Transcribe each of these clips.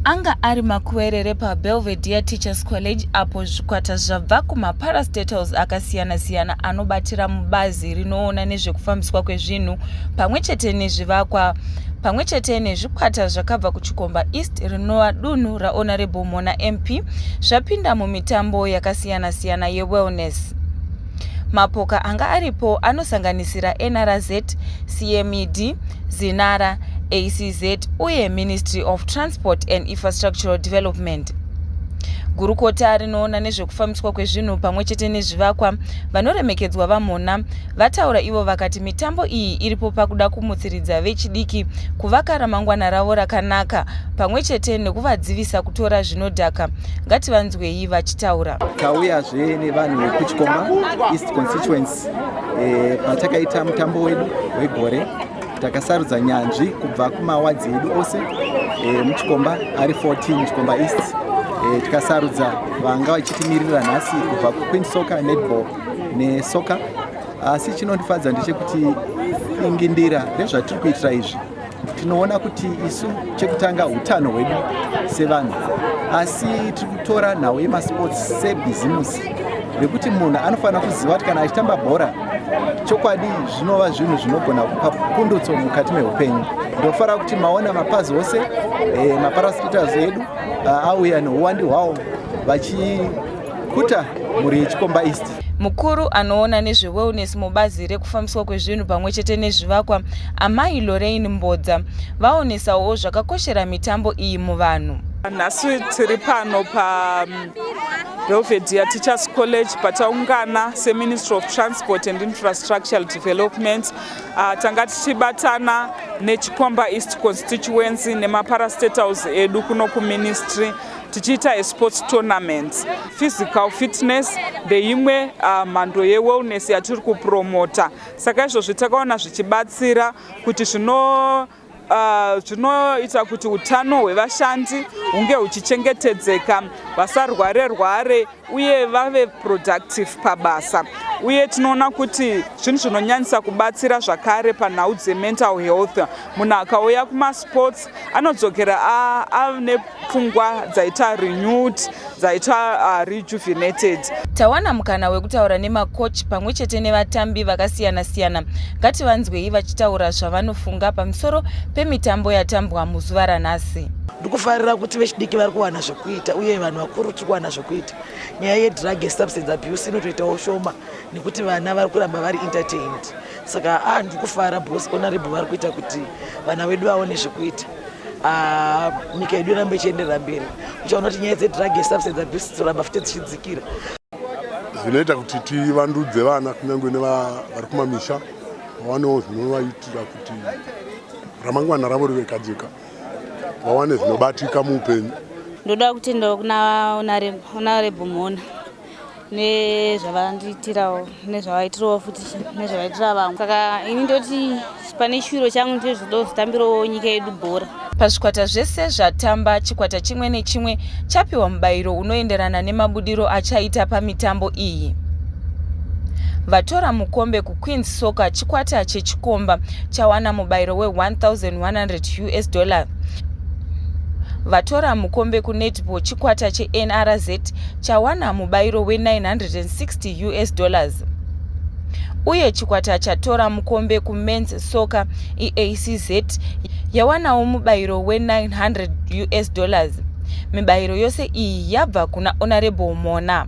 anga ari makuwerere pabelvedere teachers college apo zvikwata zvabva kumaparastatals akasiyana-siyana anobatira mubazi rinoona nezvekufambiswa kwezvinhu pamwe chete nezvivakwa pamwe chete nezvikwata zvakabva kuchikomba east rinova dunhu raonarable mona mp zvapinda mumitambo yakasi yakasiyana-siyana yewellness. Mapoka anga aripo anosanganisira NRZ, CMED, Zinara, ACZ uye Ministry of Transport and Infrastructural Development. Gurukota rinoona nezvekufambiswa kwezvinhu pamwe chete nezvivakwa vanoremekedzwa VaMhona vataura ivo vakati mitambo iyi iripo pakuda kumutsiridza vechidiki kuvaka ramangwana ravo rakanaka pamwe chete nekuvadzivisa kutora zvinodhaka ngativanzwe vanzwei vachitaura tauyazve nevanhu vekuchikomba east constituency eh, patakaita e, mutambo wedu wegore takasarudza nyanzvi kubva kumawadzi edu ose e, muchikomba ari 14 muchikomba east e, tikasarudza vanga vachitimirira nhasi kubva kuqueen soccer netball nesoccer asi chinondifadza ndechekuti ingindira rezvatiri kuitira izvi tinoona kuti isu chekutanga utano hwedu sevanhu asi tiri kutora nhau yemasports sebhizimusi rekuti munhu anofanira kuziva kuti kana achitamba bhora chokwadi zvinova zvinhu zvinogona kupa pundutso mukati meupenyu ndofanira kuti maona mapazi ose eh, maparaspitals edu ah, auya neuwandi hwawo vachi kuta mhuri yechikomba east mukuru anoona nezvewellness mubazi rekufambiswa kwezvinhu pamwe chete nezvivakwa amai lorain mbodza vaonesawo zvakakoshera mitambo iyi muvanhu nhasi tiri pano pa um, belvedere teachers college pataungana seministry of transport and infrastructural development uh, tanga tichibatana nechikomba east constituency nemaparastatals edu kuno kuministry tichiita esports tournaments physical fitness ndeimwe uh, mhando uh, yewellness yatiri kupromota saka izvozvi takaona zvichibatsira kuti zvino uh, zvinoita uh, kuti utano hwevashandi hunge huchichengetedzeka vasarware rware uye vave productive pabasa uye tinoona kuti zvinhu zvinonyanyisa kubatsira zvakare panhau dzemental health munhu akauya kumasports anodzokera ane pfungwa dzaita renewed dzaita uh, rejuvenated tawana mukana wekutaura nemacoach pamwe chete nevatambi vakasiyana-siyana ngativanzwei vachitaura zvavanofunga pamusoro pemitambo yatambwa muzuva ranhasi ndikufarira kuti vechidiki vari kuwana kuita uye vanhu vakuru tiri kuwana zvekuita nyaya yedrug yesubstance abuse inotoitawo shoma nekuti vana vari kuramba vari entertained saka a ah, ndiri kufara bos onarebo vari kuita kuti vana vedu vaone zvekuita ah, nyika yedu irambe ichienderera mberi uchaona kuti nyaya dzedrug yesubstance abuse dzoramba futi dzichidzikira zvinoita kuti tivandudze vana kunyange nevari kumamisha vawanewo zvinovaitira kuti ramangwana ravo rive kajeka vawane zvinobatika muupenyu ndoda kutenda kuna honarebu mhona nezvavandiitirawo nezvavaitirawo futi nezvavaitira vamwe saka ini ndoti pane shuviro changu ndizvoda kuzotambirawo nyika yedu bhora pazvikwata zvese zvatamba chikwata chimwe nechimwe chapiwa mubayiro unoenderana nemabudiro achaita pamitambo iyi vatora mukombe Queens Soccer, chikwata chechikomba chawana mubayiro we-1100 us dollar vatora mukombe kunetball chikwata chenrz chawana mubayiro we-960 us dollars uye chikwata chatora mukombe kumens soccer eacz yawanawo mubayiro we-900 us dollars mibayiro yose iyi yabva kuna honorable mona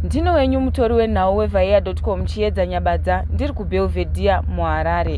ndino wenyu mutori wenhau wevaeado Escom Chiedza Nyabadza ndiri kuBelvedere muHarare.